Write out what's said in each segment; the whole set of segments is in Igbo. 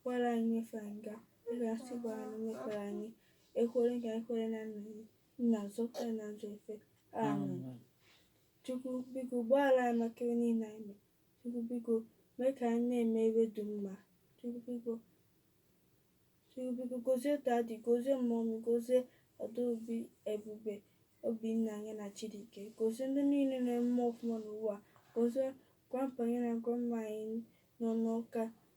Gbaghara anyị mmefie anyị, dịka anyị si gbaghara ndị mefiere anyị, ekwela ka anyị kwenye na nranye, ma zọpụta anyị n'ajọ ife. Amen. Chukwu biko gbaghara anyị maka ihe niile anyị mere. Chukwu biko mee ka anyị na-eme ebe dị mma. Chukwu biko Chukwu biko gozie dadi, gozie mọmi, gozie Adaobi, Ebube, Obinna anyị na Chidike. Gozie ndị niile na-eme ọfụma n'ụwa. Gozie grandpa anyị na grandma anyị nọ n'ụka.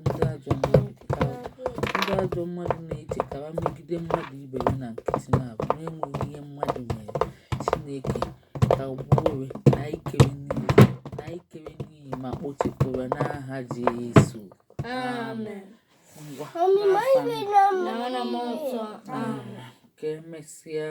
ndị ajọ mmadụ pụtara ndị ajọ mmadụ na-echekara megide mmadụ ibe ya na nkịtị na-abụ na-enweghị ihe mmadụ mere chineke kagbuore na ikere n'iyi ma kpochapụrụ n'aha jesu amen ngwa ka emesịa